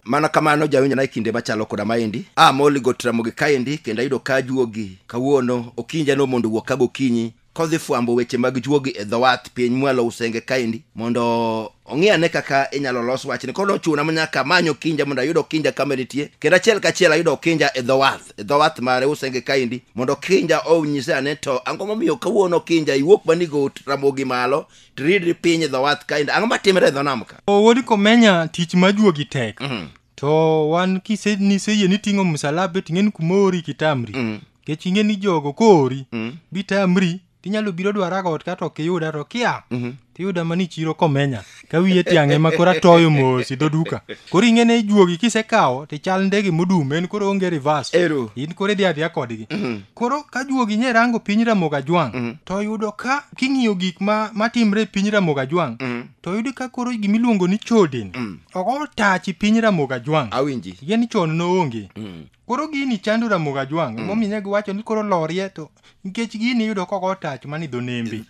mana kamano jawinjo nae kinde machalo koda maendi a moli got ramogi kaendi kendo ayudo ka juogi kawuono okinja no mondo wuok ka gokinyi kodhi fwambo weche mag juogi e dhowath piny mwalo usenge kaendi mondo ong'i ane kaka inyalo los wachni koro nochuna ma nyaka manyo kinja mondo ayud okinja kama nitie kendo achiel kachiel ayudo okinja e dhowath e dhowath mare usenge kaendi mondo okinja onyise ane to ang'o momiyo kawuono okinja iwuok mani got ramogi malo tiridri piny e dhowath kaendi ang'o matimre e dho nam ka O, wuod komenya tich ma juogi tek Mhm. to wan kise niseyie ni ting'o msalaba ting'e ni kuma ori kitamri Mm. kech ing'e ni jogo koori Mm. bitamri tinyalo biro dwara got kato ok iyuda to kia Mhm. tiyuda mani chiro komenya ka wiye tiang'e ma koro atoyo mos idho duka koro ing'ene ijuogi kisekawo tichal ndege modum en koro onge reverse Ero. in koro idhi adhiya kodgi Mhm. koro ka juogi nye rango piny ramoga jwang' Mhm. to yudo ka king'iyo gik ma matimre e piny ramoga jwang' Mhm. to yudo ka koro gimiluongo ni chodin Mm. ok otachi piny ramoga jwang' Awinji. tiende ni chon noonge Mm. Koro gini chando Ramogi Ajwang' mm. emomiyo ne giwacho ni koro lorie to nikech gini iyudo ka ogo tach man e dho nembe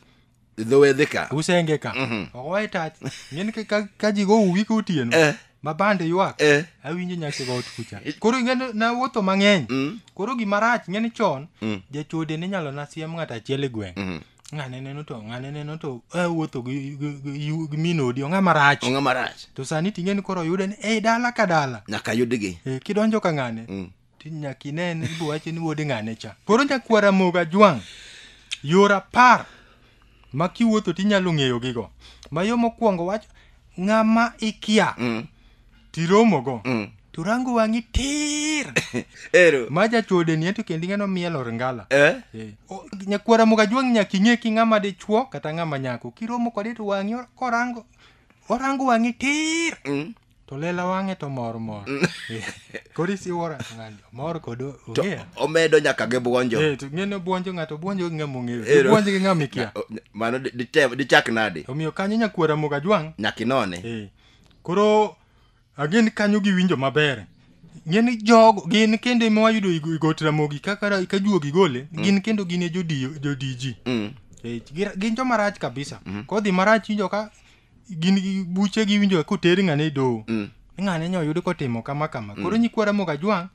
dho wedhe ka usenge ka mm-hmm. ogoye tach ng'eni ka ji go uwi ka otieno eh. ma bande ywak eh. awinjo nyasi got kucha koro ing'eni nawuotho mang'eny mm. koro gimarach ng'eni chon mm. jachode ne inyalo nasiem ng'ato achiel e gweng' mm-hmm. ng'ane neno to ng'ane neno to eh, wuotho gi- gi- gi yu- gi min odi ong'a marach ong'a marach to sani ting'e ni koro oyude ni ei dala ka dala nyaka yudgi Eh, kidonjo ka ng'ane Mm. ti nyaka inene ibo wache ni wuod ng'ane cha koro nyakwara moga jwang' yor apar ma kiwuotho tinyalo ng'eyogigo ma yo mokwongo wacho ng'ama ikia Mm. tiromogo mm. to rango wang'i tir ero ma jachode ni ento kendi ng'ano mielo ringala eh? eh. nyakwara muka jwang' nyaki ng'e ki ng'ama dichwo kata ng'ama nyako kiromo kode to wang'i korango orango wang'i tir mm. to lela wang'e to mor mor mm. eh, koro isiwora ng'ani mor kod ong'eya omedo nyaka gi bwonjo eh, to ng'eno bwonjo ng'ato bwonjo gi ng'ama ong'eyo eh, bwonjo gi ng'ama ikia mano dichak nadi omiyo kanyo nyakwara muka jwang' nyaka inone koro agin kanyo giwinjo maber ngeni jogo gin kendo ema wayudo igo- igot ramogi kaka ra- ka juogi gole gin kendo gin e jodi- jodiji Mm. Eh, gi- gin joma rach kabisa kodhi marach winjo ka gin gi- buche giwinjo ka oter ng'ane e doho Mm. ng'ane nyo oyud kotimo kama kama koro nyikwa ramogi ajwang'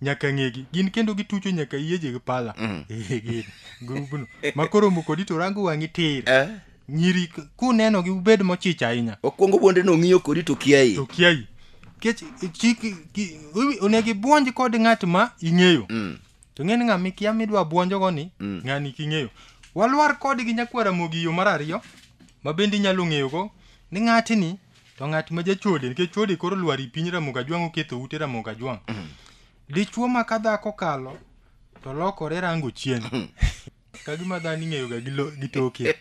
nyaka ng'egi gin kendo gitucho nyaka yiyeje gi pala Mm. Eh, gin grubno ma koromo kodi to rango wang'i tir Eh, nyiri k- kunenogi ubed mochich ahinya okwongo bwonde no ng'iyo kodi to kiai to kiai kech chik ki- iwi- onego ibwonj kod ng'at ma ing'eyo Mm. to ng'eni ng'a mikia midwa bwonjogo ni Mm. ng'ani king'eyo walwar kodgi nyakwara mogi yo mar ariyo ma bende inyalo ng'eyogo ni ng'atni To ng'at ma jachode nikech chode koro lwar i piny Ramogi Ajwang' oketho ute Ramogi Ajwang'. Dichwo ma ka dhako kalo to lokore rango chien. Ka gima dhano ing'eyoga gi lo- gi toke.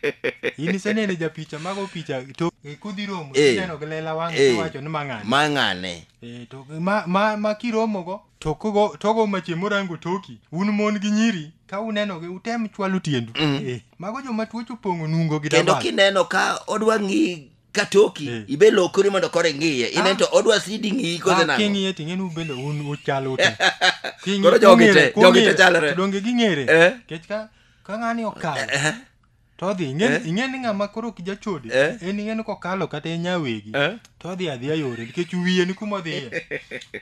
In iseneno japicha mago picha to kudhi romo Eh. ineno gi lela wang' Eh. iwacho ni mang'ani. Ma ng'ane. Eh, to ma, ma, ma kiromogo to kogo togo mache morango toki un mon gi nyiri ka unenogi utem chwalo tiendu eh, mago joma tuoche opong'o nungo gi Kendo dabal. kineno ka odwa ng'i katoki Eh. ibe lokori mondo kore ngiye ine Ah. to odwa sidi ngiyi kose Ah, nango king'iye ting'e ni ubende un uchal ute King'i- Koro jogi kong'ere, te- jogi te kong'ere. chalre. To donge ging'ere Eh. nikech ka ka ng'ani okalo Eh, to odhi ing'e Eh. ing'e ni ng'ama koro ok jachode Eh. en ing'e ni kokalo kata e nyawegi eh. to odhi adhiya yore nikech wiye ni kuma odhiye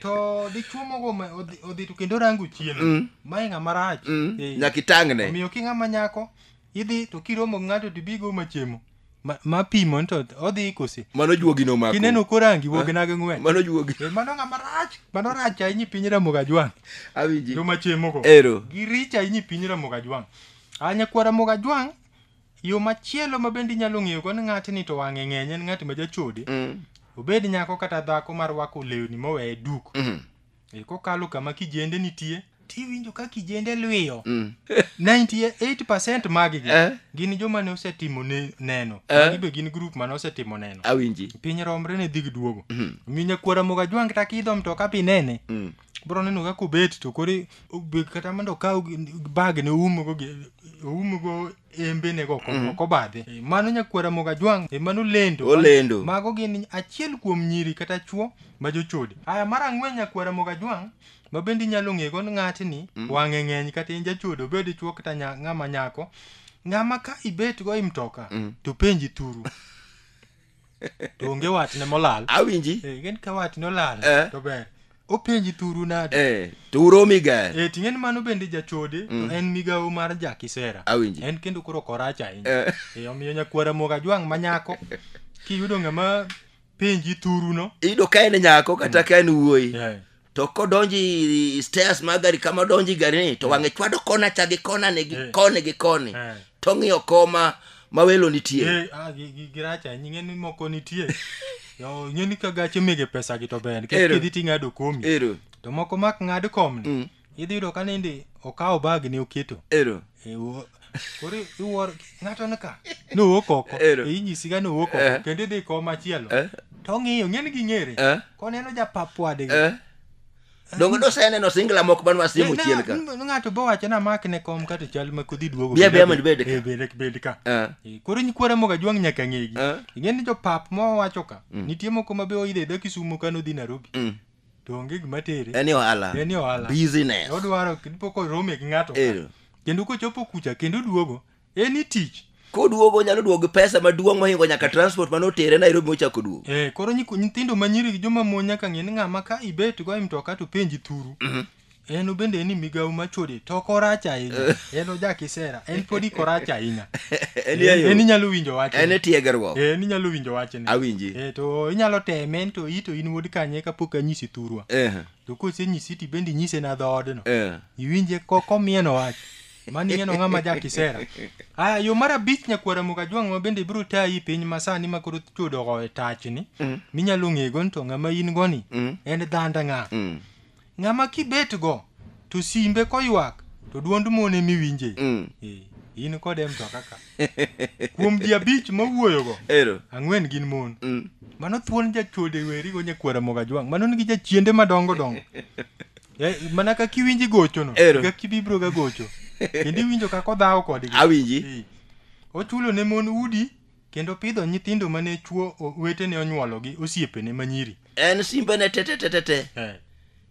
to dichuo mogo ma- odhi- odhi to kendo rango chien Mm. mae ng'ama rach Mm, Eh. nyaka itangne omiyo ki ng'ama nyako idhi to kiromo gi ng'ato to ibigo machemo ma- mapimo ni to odhi kose mano juogi nomako kineno korangi wognage ng'wen mano juogi Eh, mano ng'ama rach mano rach ahinya i piny ramoga jwang' awinji jomachemogo ero giricho ahinya i piny ramoga jwang' a nyakwa ramoga jwang' yo machielo ma bende inyalo ng'eyogo ni ng'atni to wang'e ng'eny en ng'at ma jachode Mm, obed nyako kata dhako marwako lewni moweye duk mhm. Eh, kokalo kama kijende nitie tiwinjo ka kijende lwiyo Mm. 98 maggi Eh. gin joma ne osetimo ne- neno Eh. magi be gin grup mane osetimo neno Awinji. piny romre ne dhi giduogo Mhm. omiyo nyakwara moga jwang' ta kidho mtoka pinene Mm. bro neno kaka obet to koro obet kata mondo okaw bag ne oumgo gi- oumgo embene go mm. ok obadhe eh, mano nyakwara moga jwang e mano lendo olendo mago gin achiel kuom nyiri kata chuo ma jochode aya mar ang'wen nyakwara moga jwang ma bende inyalo ng'ego ng'atni mm. wang'e ng'eny kata in jachode obed chuo kata ng'ama nyako ng'ama ka ibet go i mtoka mm. to penji thuru to onge watne molal awinji Eh, ing'eni ka watne olal Eh. to ber openji thuru nade eh, to uromi ga Eh, ting'e ni mano bende jachode to en migawo mar jakisera Awinji. en kendo koro korach ahinya Eh. Eh, omiyo nyakwara moga jwang' manyako kiyudo ng'ama penji thuruno iyudo ka en nyako kata ka en wuoyi Eh. to kodonji stairs mar gari kama odonji garini to wang'e chwado kona cha gi kona ni gi Eh. koni gi koni Eh. to ng'iyo koma ma welo nitie Eh, ah, gi- gi- giracha ing'e ni moko nitie Yo, ing'e ni ka gache mege pesa gi to ber nikech Ero. kidhi ting'ado komi ero to moko mak ng'ad komni Mm. idhi yudo ka nindi okawo bag ni oketo ero koro iwuoro ng'ato ni ka nowuok oko Ero. e inyisi ga nowuok Eh. oko kendo idhi kom machielo Eh, to ong'iyo ng'eni gi ng'ere eh, koneno japap wadgi eh. Donge noseneno singla moko man wasiemo Ne- chien ka. ne- ng'ato bo wacho na mak ne kom kato chal ma kodhi duogo Bia, bia, mondo ibed ka. Eh, bed- bed ka Eh, Eh, koro nyikwara moga jwang' nyaka ng'egi Eh. ing'eni jopap mowacho ka nitie moko ma be oidhe dho kisumo ka nodhi narobi mm. to onge gima tere en ohala en ohala business odwaro kipo korome gi ng'ato Eh. kendo kochopo kucha kendo duogo en i tich koduogo onyalo duogo gi pesa maduong' mohingo nyaka transport mane otere nairobi mochako duogo eh koro nyiko- nyithindo manyiri gi joma mon nyaka ng'e ni ng'ama ka ibet go e mtoka to penji thuru en obende en ni migawo ma chode to ok orach ahinya en oja kisera en pod ik orach ahinya En e yo. en inyalo winjo wach en e tiegruok en inyalo winjo wachne Awinji. Eh, to inyalo teme to i to in wuod kanye kapok anyisi thurwa Eh, to kosenyisi to ibende inyise na dhoodno eh. iwinje ko- komieno wach mani ng'eno ng'ama ja kisera aya yo mar abich nyakwara mukajwang' ma bende ibiro tayi piny masani ma koro chudogo e tachni minyalo ng'ego ni to ng'ama in goni en dhanda ng'a Mm. Ng'ama kibet go to simbe koywak to duond mon ema iwinje. Mm. Eh, in kode e mtoka ka. Kuom ji abich mawuoyo go, Ero. ang'wen gin mon. Mm. Mano thuon jachode weri go nyakwara moga jwang'. Mano nigi jachiende madongo dongo. Eh, mana ka kiwinji gocho no, Ero. ga kibibro ga gocho. Kendo iwinjo kaka odhawo kodgi. Awinji. Eh, Ochulo ne mon udi Kendo pidho nyithindo ma ne chwo o- wetene onyuolo gi osiepene ma nyiri. en simbene tetetetete Eh,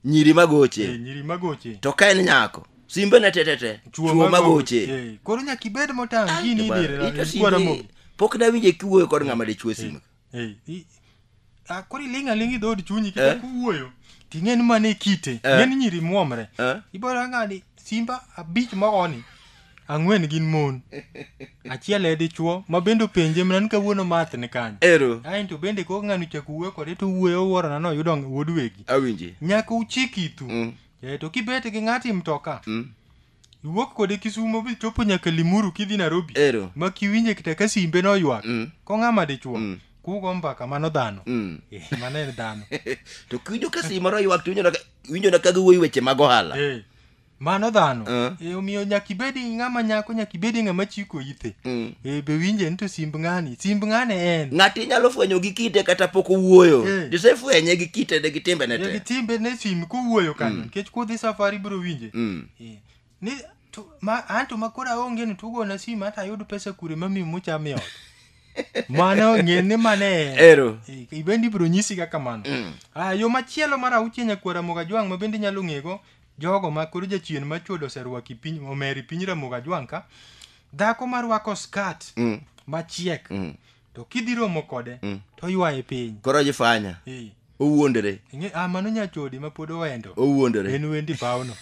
nyiri eh, magoche nyiri magoche. to ka en nyako simbene tetete Chwo chwo magoche Eh, Koro nyaka ibed motang' gini Ito idire. simbe, Kwara mo. pok nawinje kiwuoyo kod ng'ama dichwo simbe Eh, i- Ah, koro iling' aling' i dhood chunyi Eh. kichako wuoyo ting'e ni mane kite Eh. ng'e ni nyiri muomre Eh. ibora ng'ani simba abich mogoni ang'wen gin mon achiel e dichuo ma bende openje mana ni kawuono math ni kanyo ero aen to bende kok ng'ani chako wuoyo kode to wuoyo wuorona no yudo wuod wegi awinji nyaka uchik itu Mm. Eh, to kibet gi ng'ati mtoka Mm. Iwuok kode Kisumo bi chopo nyaka Limuru kidhi Nairobi. Ero. Ma kiwinje kata ka simbe no ywak. Mm. Ko ng'ama dichuo. Mm. Kugo mbaka mano dhano. Mm. Eh, mano en dhano. to kiwinjo ka simbe no ywak to winjo na winjo na kaga wuoyi weche mag ohala. Eh. Mano dhano. Uh. Eh, omiyo nyaka ibedi ng'ama nyako nyaka ibedi ng'ama chiko ithe. Mm. Eh, be winje ni to simb ng'ani. Simb ng'ane en. Ng'ati nyalo fwenyo gi kite kata pok owuoyo. Eh. Disefwenye gi kite de gi timbe ne te. Gi timbe ne sim kuwuoyo kanyo. Mm. Kech kudhi safari biro winje. Mm. Eh, ni to, ma, an to makoro aonge ni tugona simu hata ayud pesa kure mami muchame ot mano ng'e ni mane Ero. Eh, ibendi ibiro nyisi ga kamano Mm. ah, yo machielo mar auchie nyakuo ramoga jwang' ma bende inyalo ng'ego jogo ma koro jachien ma chuodo oserwaki piny omeri piny ramoga jwang' ka dhako marwako skat Mm. machiek Mm. to kidhi romo kode Mm. to ywaye piny koro ojifanya Eh, owuondore ing'e- ah, mano nyachode ma pod owendo owuondore en wendi pawno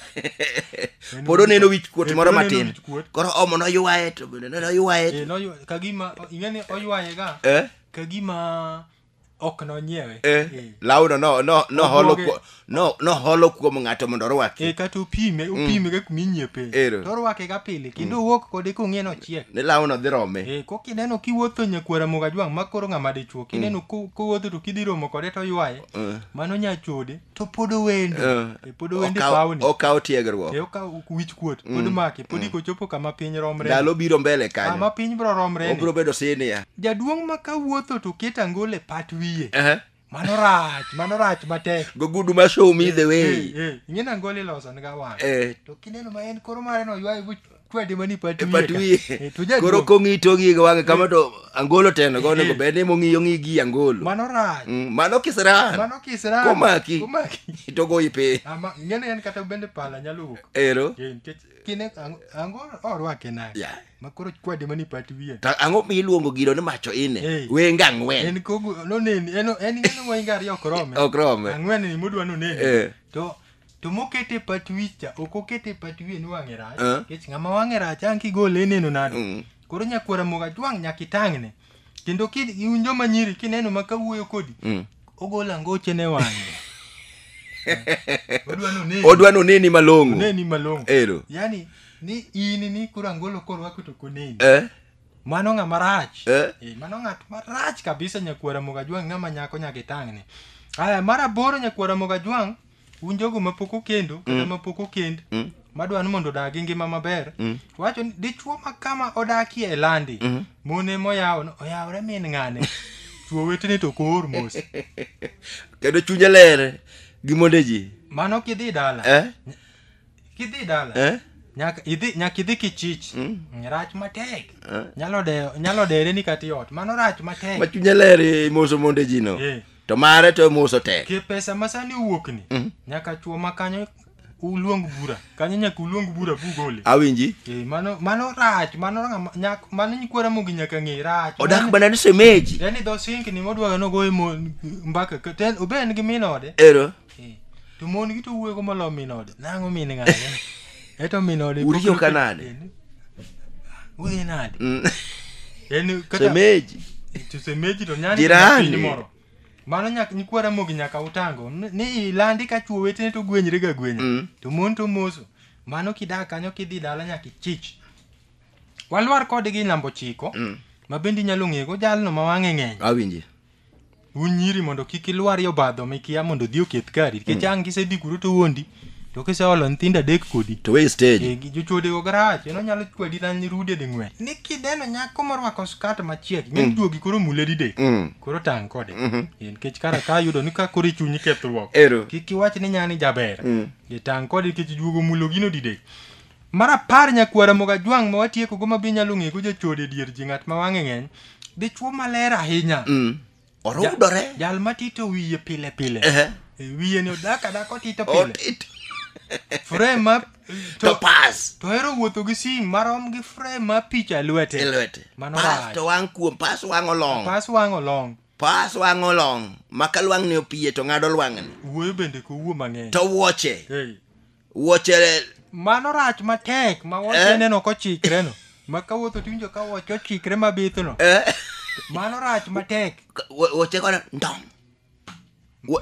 En pod wendi oneno paw- wich kuot Eh, moro pod oneno matin wich kuot. koro omo noywaye to bende noywaye Eh, noywa- kagima ing'e ni oywayega eh kagima ok nonyiewe Eh, Eh. lawno no- no- noholo Obuoge. kuo- no- noholo kuom ng'ato mondo orwaki e kata opime opime ga kuma inyiepe Ero. to orwake ga pile kendo owuok kode kong'e nochiek ni lawno dhi rome e ko kineno kiwuotho nyakwara moga jwang' ma koro ng'ama dichuo kineno ko- kowuotho to kidhi romo kode to ywaye mano nyachode to pod owendo Eh, Eh, pod owendo e okaw- pawni okaw tiegruok Eh, okaw wich kuot pod make pod iko chopo kama piny romre ndalo biro mbele kama kanyo piny bro romre obiro bedo sinia jaduong' ma ka wuotho to ket angolo e pat wiye Ehe. mano rach mano rach matek gogudu ma show me the way Eh, eh, ing'e ni angolo iloso niga wang' Eh, to kineno ma en koro mare no ywaye buch kwede mani pat E pat wiye ka. wiye. Eh, to jaduong', Koro kong'i to ng'i gi wang'e kama to angolo teno go onego bed ni mong'iyo ng'i gi angolo. mano rach Mm, Mano kisran. mano kisra Komaki. komaki To goyi piny. ama ngene en kata bende pala nyalo wuok Ero. Eh, nikech kine ang- ango orwake nade Yeah. makoro kwede mani pat wiye Ta ang'o miluongo gino ni macho ine? Eh. Wenge ang'wen. en kogu noneni en en ng'eno moinga ariyo ok rome Ok rome. ang'wen ni modwa noneni Eh. to to mokete e pat wich cha ok okete e pat wiye ni wang'e rach Eh. nikech ng'ama wang'e rach ang' kigole ineno nade Mm. koro nyakwara moga jwang' nyaka itang'ne kendo ki- un joma nyiri kineno ma kawuoyo kodi Mm. ogolo angoche ne wang'e odwa noneni odwa noneni malong'o oneni malong'o ero yani ni in ni koro angolo korwako to koneni eh? mano ng'a marach Eh. Eh, mano ng'at marach kabisa nyakwara mogajwang' ng'ama nyako nyaka itang'ne aya mar aboro nyakwara mogajwang' un jogo ma pok okendo kata ma pok okend Mm. madwa ni mondo odag gi ngima maber Mm. wacho ni dichwo ma kama odakie e landi Mhm. mon ema oyawo no, oyawore min ng'ane chwo wetene to koor mos kendo chunye ler gi monde ji mano kidhi dala eh? kidhi dala Eh? nyaka idhi nyaka idhi kichich Mm. rach matek Eh? nyalo dewo nyalo dere ni kati ot mano rach matek ma chunye ler imoso monde ji no Eh. to mare to mos otek ke pesa ma sani owuokni Mhm. nyaka chuo ma kanyo uluong bura kanyo nyaka uluong bura bugole awinji Eh, mano mano rach mano ng'ama- nyak- mano nyikwara mogi nyaka ng'e rach odak Mano- mana ni semeji yani dho singni modwaga nogoye mo- mbaka ka- ten- obe en gi min ode ero Eh, to mon gi to wuoyo molo min ode nang'o min ng'ane eto min ode Uriyo ka nade? udhi nade Mm. en kata Semeji. to semeji to nyani Jirani. piny moro mano nyaka nyikwa ramogi nyaka utango Ni- ni ilandi ka chuo wetene to gwenyre ga gwenya Mm. to mon to moso mano kidak kanyo kidhi dala nyaka ichich walwar kodgi namba ochiko Mm. ma bende inyalo ng'ego jalno ma wang'e ng'eny Awinji. un nyiri mondo kik ilwar yo badho mikia mondo odhi oketh kari nikech mm. ang' kisedhi kuro to wondi to kiseolo nyithindo adek kodi to we stage eh, jochode go garach eno nyalo kwedi na rude de ng'wen ni kideno nyako morwako skat machiek min mm. duogi koro mule dide mm. koro tang' kode mm-hmm. eh, nikech kara ka yudo ni ka koro ichunyi kethruok kik iwach ni nyani jaber mm. eh, tang' kode nikech duogo mulo gino dide Mar apar nyakwar Ramogi Ajwang' ma watiekogo ma be inyalo ng'ego jachode dier ji ng'at ma wang'e ng'eny, dichwo maler ahinya. Mm. Orudore. Jal ma tito wiye pile pile. Ehe. E, Wiye ni odak adak otito pile. Otit. Frame ma To pas. to hero wuotho gi sim marom gi frame ma picha e lwete. E lwete. Mano Pas rach. to wang' kuom pas wang' olong. Pas wang' olong. Pas wang' olong. Ma ka lwang'ni opiye to ng'ado lwang'ni. Wuoyo bende ko wuo mang'eny. To wuoche. Hey. wuoche mano rach matek ma wuoche eh? neno kochikre no ma ka wuotho tiwinjo ka wuoche ochikre mabith no eh? mano rach matek wuoche kono ndong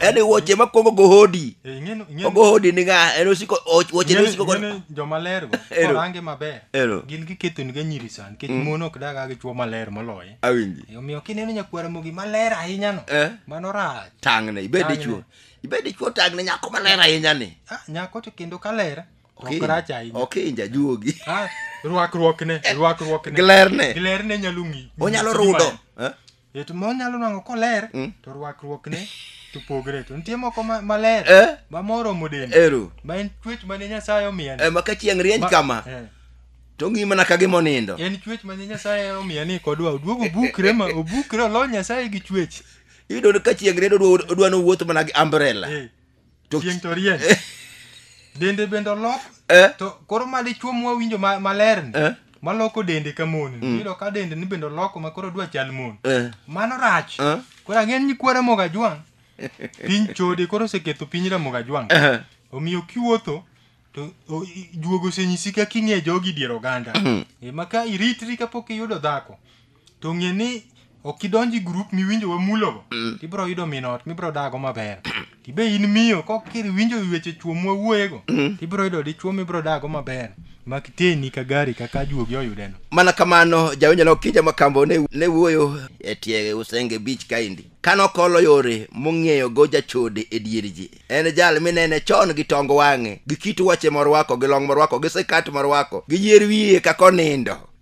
yani wuoche makwongo gohodi eh, ogohodi ni ng'a en osiko wuoche ne osiko kono jomaler go orange maber gin gikethoni ga nyiri sani nikech mm. mon ok daga gi chwo maler moloye awinji omiyo kineno nyakwara mogi maler ahinya no mano rach tang'ne ibed dichwo ibed dichwo tag ne nyako maler ahinya ni Ah, nyako to kendo kaler to ok rach ahinya ok inja juogi Ah, rwakruokne rwakruokne glerne glerne nyalo ng'i onyalo ng'isi rudo gima en. Eh, to monyalo nwango koler Mm. to rwakruokne to pogre to nitie moko ma- maler Eh? ma moromo dende ero ma en chuech mane nyasaye omiya ni. Eh, ma ka chieng' rieny Ma- kama eh, to ng'i mana ka gima onindo en chuech mane nyasaye omiya ni kodwa oduog obukre ma obukre olony nyasaye gi chuech iyudo ni ka chieng' rieny odwa- odwa nowuoth mana gi umbrella Eh, To- chieng' to rieny dende bende olok Eh? to koro ma dichuo mwawinjo ma- maler ni Eh? maloko dende ka mon ni iyudo ka dende ni bende oloko ma koro dwa chal mon Eh. mano rach Eh? koro ang'e ni kwara mogajwang' piny chode koro oseketho piny ramogajwang' Eh. omiyo kiwuotho to o- i- juogo osenyisi kaka ing'e jogi dier oganda Eh, ma ka iritri kapok iyudo dhako to ng'e ni ok idonj e grup miwinjo wamulogo to ibiro yudo min ot mibiro dago maber to be in miyo ka ok iwinjo weche chuo mwawuoyego to ibiro yudo dichuo mibiro dago maber ma kiteni ka gari kaka juogi oyudeno mana kamano jawinjo ne okija makambo ne, ne wuoyo e tie usenge beach kaendi kane okolo yore mong'eyo go jachode e dier ji en jal minene chon gi tong wang'e gi kit wuoche morwako gi long morwako gi sikat morwako gi yier wiye kaka onindo